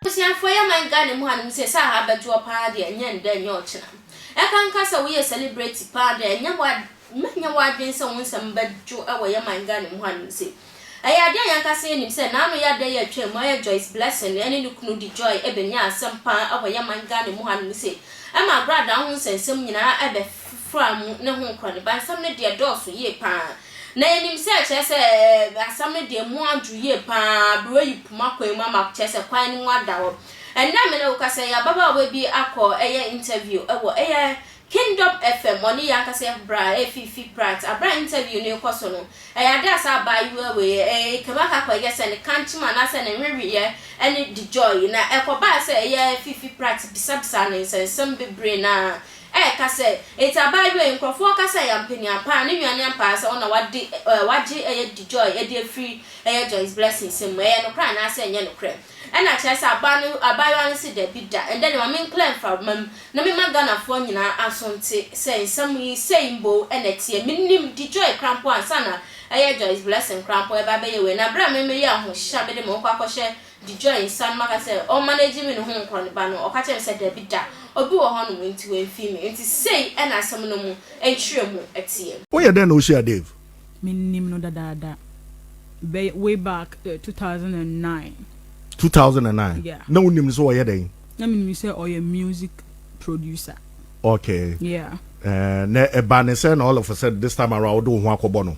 Abusuafoɔ yɛ man Ghana mu hanom sɛ sɛ aha bɛdwoɔ paa deɛ ɛnyɛ ndɛ ɛnyɛ ɔkyena. Ɛka nka sɛ woyɛ celebrity paa deɛ ɛnyɛ w'ade. Mɛnyɛ w'adwene sɛ wo nsɛm bɛdwo wɔ yɛn man Ghana mu ha nom sei. Ɛyɛ adeɛ a yɛn ankasa yɛn nim sɛ n'ano yɛ adeɛ yɛ atwam mu ayɛ Joyce Blessing ɛne ne kunu de joy ɛbɛnya asɛm paa wɔ yɛn man Ghana mu ha nom sei ɛma agradaa ho nsɛnsɛm nyinaa ɛbɛfra mu ne ho nkorɔ ne ba nsɛm no deɛ dɔɔso yie paa na yɛn nim sɛ kyerɛ sɛ asɛm no deɛ mu adwo yie paa bere wayi poma kwan mu ama kyerɛ sɛ kwan no mu ada hɔ ɛnnɛ mene wo kasa yi ababaawa bi akɔ ɛyɛ interview ɛwɔ ɛyɛ Kingdom FM ɔne yɛn ankasa yɛn bra Fifi Pratt aber a interview no rekɔ so no, ɛyɛ ade a saa abaayewa wei yɛ, ee, kɛmu aka akɔyɛ sɛ ne kankyem anaasɛ ne nweweyɛ ne de gyɔɔe, na ɛkɔbaa sɛ ɛyɛ Fifi Pratt bisabisaa no nsɛnsɛm bebree na ɛreka sɛ, Enti abaayewa yi, nkurɔfo wɔka sɛ ɛyɛ ampania paa, ne nua ne ampaa sɛ wo na wade, eh, wagye ɛyɛ de gyɔɔe de afiri ɛyɛ Joyce Blessing nsam mu, ɛyɛ nokorɛ anaasɛ ɛnyɛ nokorɛ? Ɛna kyerɛ sɛ abaa no abaayewa no se dabi da ɛndɛ deɛ ma me nkla mframa mu na me ma Ghanafoɔ nyinaa aso nte sɛ nsɛm yi sei mboo ɛna ɛteɛ me nim di Joy kra mpo ansa na ɛyɛ Joyce Blessing kra mpo ɛba bɛyɛ wei na berɛ a me me yɛ ahohyehyɛ a me de me ho kɔ akɔ hyɛ di Joy nsa no maka sɛ ɔn manage me ne ho nkɔ ne ba no ɔka kyerɛ me sɛ dabi da obi wɔ hɔ nom nti wamfii me nti sei ɛna asɛm no mu nkyerɛ mu teɛ. Woyɛ dɛn na wohyia Dave? menim no dadaada bɛyɛ way back uh, eh, 2009. 2009. Yeah. Na wonim no sɛ ɔyɛ dɛn? Na menim sɛ ɔyɛ music producer. Okay. Yeah. Uh, na ɛba ne sɛ na all of a sudden this time around wode wo ho akɔbɔ no.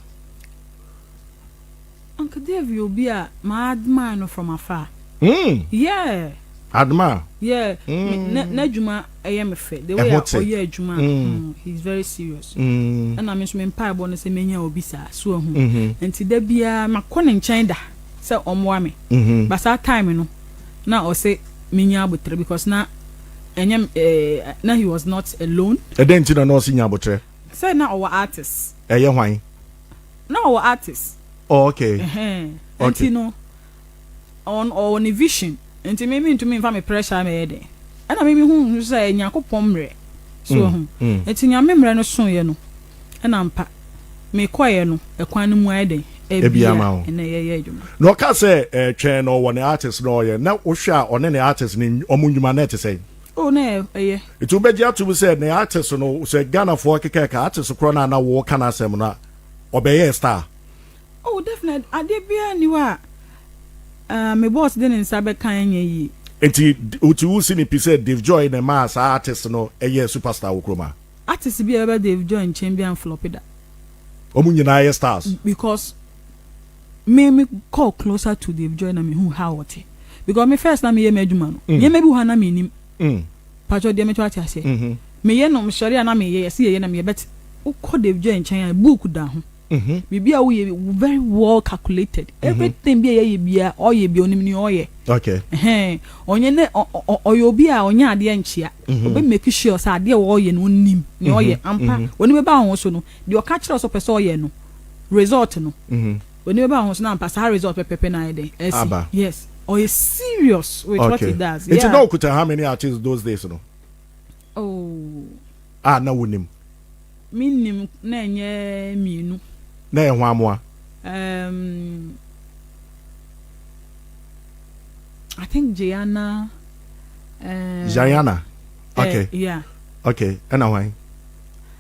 Uncle Dave yɛ obi a ma admire no from afar. Hmm! Yeah! Admire? Yeah, hmm. N'adwuma ɛyɛ me fɛ. The way a ɔyɛ adwuma, hmm. hmm, he is very serious. Hmm. Ɛna me nso me mpaebɔ no sɛ menya obi saa, so ahu. Hmm. Nti da biara makɔ ne nkyɛn da sɛ ɔmmoa me. Hmm. Ba saa time no, na ɔsɛ menya abotrɛ because na ɛnyɛ eh, na he was not alone. Ɛdɛn nti na na ɔsɛ nya abotrɛ? Sɛ na ɔwɔ artist. Ɛyɛ hwan? na ɔwɔ artist. Oh, okay. Ɛhɛn. Okay. Nti no, ɔn ɔwɔ ne vision. Nti me me ntumi nfa me pressure mɛyɛ dɛ. Ɛna me me hu nso sɛ ɛyɛ Nyankopɔn mmerɛ. So mm, ɛho. Mm. Nti nea me mmerɛ no soeɛ no, ɛna mpa me kɔeɛ no, ɛkwan no mu ayɛ dɛ. Ebia ma o. Ɛna yɛyɛ adwuma. Na ɔka sɛ eh, twɛn na ɔwɔ ne artist na ɔyɛ. Na wohwɛ a ɔne ne artist ne ɔmo nnwuma na ɛte sɛn? Oh, na ɛyɛ. Nti wobɛgye atom sɛ ne artist no sɛ Ghanafoɔ akeka ɛka artist korɔ no a na woka n'asɛm no a ɔbɛyɛɛ star? Oh definitely, adeɛ biara nni hɔ a uh, me boss de ne nsa bɛka ɛnyɛ yie. Nti nti wosi ne pi sɛ Dave Joy na ɛmaa saa artist no ɛyɛɛ superstar wɔ kurom ha? Artist bi a ɛbɛba Dave Joy nkyɛn biara nflɔpe da. Wɔn nyinaa yɛ stars. Because me me call closer to Dave Joy na me hu how ɔte because me first na me yɛ m'adwuma no mm. nneɛma bi hɔ na me nim mm. patro deɛ metɔ ate aseɛ mm-hmm. me yɛ no sɔre a na me yɛ yɛsi yɛ yɛ na me yɛ bɛt wokɔ Dave Joy nkyɛn a book da ho mm-hmm. biribi a woyɛ very well calculated mm-hmm. everything bi a yɛyɛ bia ɔyɛ bia onim ni ɔyɛ okay ɛhɛn ɔnyɛ ne ɔyɛ obi a ɔnyɛ adeɛ nkyia ɔbɛ make sure sɛ adeɛ a ɔyɛ no onim ni ɔyɛ ampa wɔn bɛ ba wɔn so no. deɛ ɔka kyerɛ sɛ ɔpɛ sɛ ɔyɛ no result no mhm. w'ani bɛba ho so na ampa saa result pɛpɛpɛ na ayɛ dɛn ɛsi yes ɔyɛ serious with okay. what he does yeah. nti na okuta how many artists those days no oh. a ah, na wonim mennim na ɛnyɛ mmienu na ɛyɛ ho amoa um, I think Gianna. Uh, Gianna. Eh, okay. Uh, yeah. Okay. And why?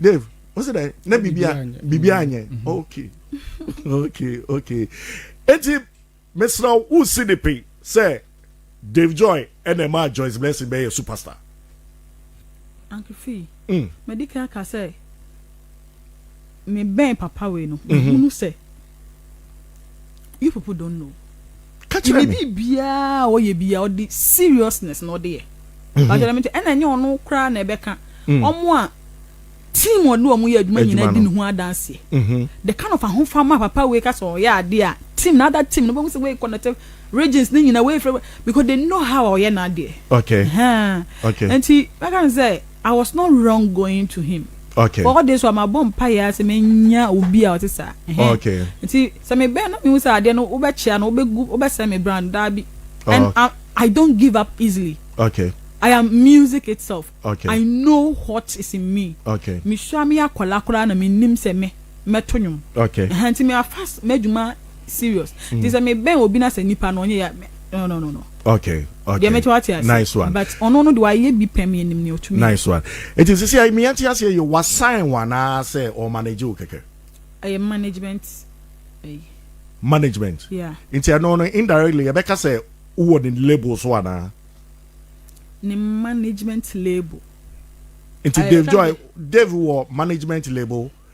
dave o sɛ dɛ na bibia bibia anyɛ mm-hmm. okay okay okay eti mesra wo si de pe sɛ dave joy ɛna ɛma joyce blessing bɛyɛ superstar. ankefi mm. madi kan aka sɛ mebɛn papa wei no mehunu mm-hmm. sɛ. you people don't know ɛne biribiaa a ɔyɛ bia ɔde seriousness na ɔde yɛ bakyɛrɛ mete ɛna ɛnyɛ ɔno koraa na ɛbɛka ɔmo a team ɔne ɔmo yɛ adwuma nyinaa di ne ho adanseɛ the kind of ahofama papa wei ka sɛ ɔyɛ adeɛ a team na ada team no bɛhu sɛ wei connected regions ne nyina wei frɛ because they know how ɔyɛ n'adeɛ okay okay nti bɛka ne sɛ I was not wrong going to him. Okay. All this while mabɔ mpaeɛ ara sɛ menya obi a ɔte saa. Okay. Nti sɛ mebɛn na mehu sɛ adeɛ no wobɛkyea no wobɛgu wobɛsɛn me brand daa bi. And I, I don't give up easily. Okay. I am music itself. Okay. I know what is in me. Okay. Mesua me akwadaa koraa na menim sɛ me mɛto nnwom. Okay. Nti me afas m'adwuma serious mm. nti sɛ mebɛn obi na sɛ nipa no ɔnyɛ ya no no no no. okay okay deɛ mɛkyɛ wate ase nice one but ɔno no de wayɛ bi pɛm yɛ nim ne ɔtumi nice one nti sisi ayi miyɛ nti ase yɛ wasan wana sɛ ɔmanage wo kɛkɛ. ɛyɛ management ɛyi. management yeah nti ɛno no indirectly yɛbɛka sɛ wowɔ ne label so ana. ne management label. nti dave joy dave wɔ management label.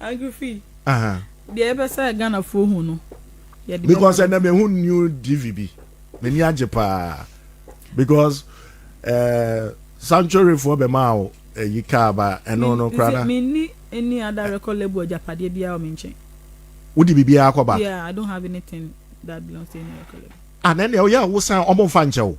agrifi deɛ ɛbɛ sɛ ghanafoɔ hu no because ɛnna mehu new tv bi m'ani agye paa because uh, eh, sanctuaryfoɔ bɛmaa wo ɛyi eh, kaa ba ɛno no kora na menni ɛni ada record label agyapadeɛ biara wɔ me nkyɛn wode biribiara kɔ ba yeah i don't have anything that belongs to any record label ah na ɛnna woyɛ a wosan ɔmo mfa nkyɛ wo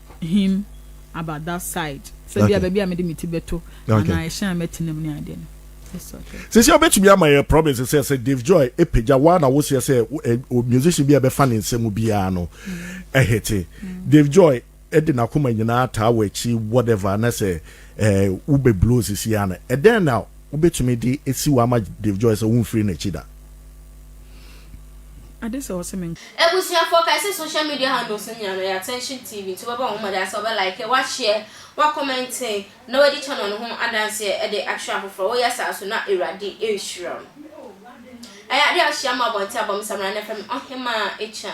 him about that side sɛ bia baabi a mede me ti bɛto anaa ɛhyɛn a mɛtena mu ne adeɛ no sisi ɔbɛtumi ama yɛ province sɛ sɛ Dave Joy epagya wa na wosia sɛ musician bi a ɛbɛfa ne nsɛm biara no ɛhete Dave Joy ɛde n'akoma nyinaa taa wɔ akyi whatever na sɛ ɛɛ wobɛ blow sisi ano ɛdɛn na wobɛtumi de esi wɔ ama Dave Joy sɛ wonfiri n'akyi da. Ade sɛ ɔse me. Abusuafoɔ kae sɛ social media handles no nyinaa no yɛ Attention TV nti wobɛbɔ ho mmɔden sɛ wobɛ like, woashare, woacommente na woadi channel no ho adanseɛ de akyerɛ afoforɔ. Woyɛ saa so na Awurade rehyira wo. Ɛyɛ adeɛ a wohyia mo abɔnten abɔ me Samina no fɛ me Ɔhemaa Akya.